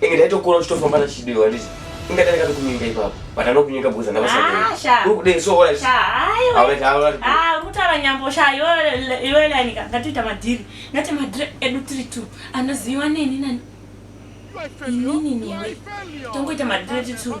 Inge ndaitokura uchitofamba nachidiwa handiti? Inga ndanga ndikunyika ipapo. But anokunyika because ndanga vasati. Ah, sha. Uri kudei so alright. Sha, hayi we. Alright, alright. Ah, kutaura nyambo sha iwe iwe lanika ngatiita madhiri. Ngati madhiri edu tiri two. Anoziwa neni nani? Inini newe. Tongoita madhiri tiri two.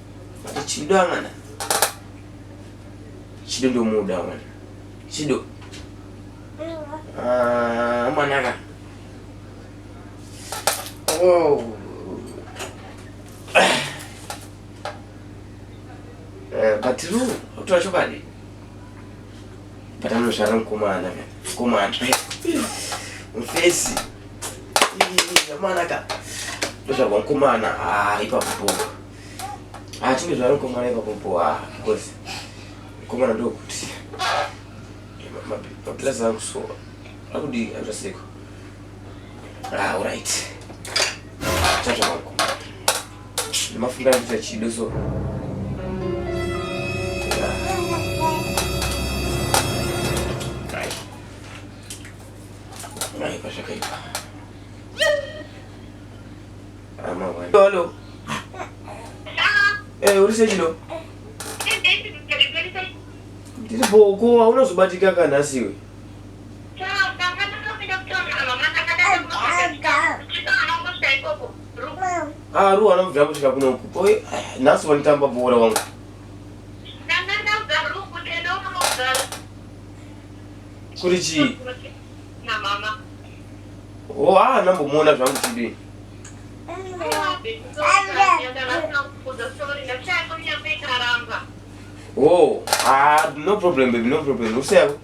But Chido amana. Chido ndo muda amana. Chido. Ah, amana ka. Oh. Eh, but Ru, utoa chokwadi. But anosvara mukomana ka. Mukomana. Mfesi. Amana ka. Ndozvagwa mukomana. Ah, ipapo. Ah, chimwe zvaro komana ipapo po ah, because komana ndokuti maplus angu so akudii anzvaseko ah, alright chatsva mangu ndimafunga ndita chido so Hello. Eh, uri sechino? Tiri boko, hauna zvobatika kana asiwe. Ah, ruwa anobvira kusvika kuno uku. Oi, nhasi wanitamba bhora wangu. Kuri chii? Oh, ah, nambomuona zvangu chidii. Oh, ah, no problem, baby, no problem. What's up?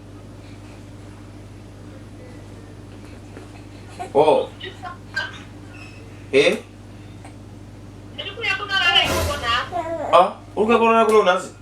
Oh. Eh? Ah, uruka korora kuno nasi?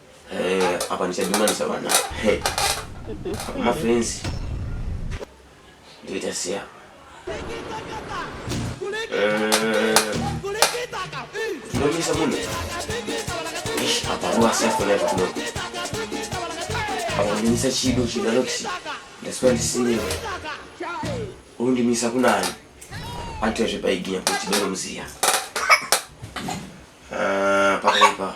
Eh, apa ndichadhumanisa vana mafrenzi ndoita siya tinomisa munhu apa ruwasiyafonaiva kuno apa ndimisa chido chinanoti ndasuva ndisinewe undimisa kunani antoyazve paiginya kuti doro muziya ah, pakaipa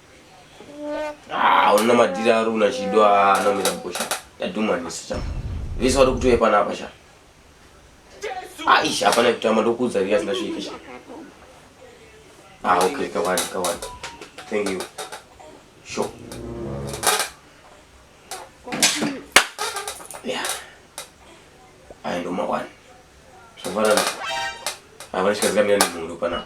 Ah, una madira ari una chido anomira mukosha. Yadhumanisa chama. Vese vari kutoya pana apa chama. Aish, hapana kutama ndokuudza riya sindasvike chama. Ah, okay, kawani, kawani. Thank you. Sure. Yeah. Aya ndo mawani. Zvafanana. Havana chikazikamira nemhuri panapa.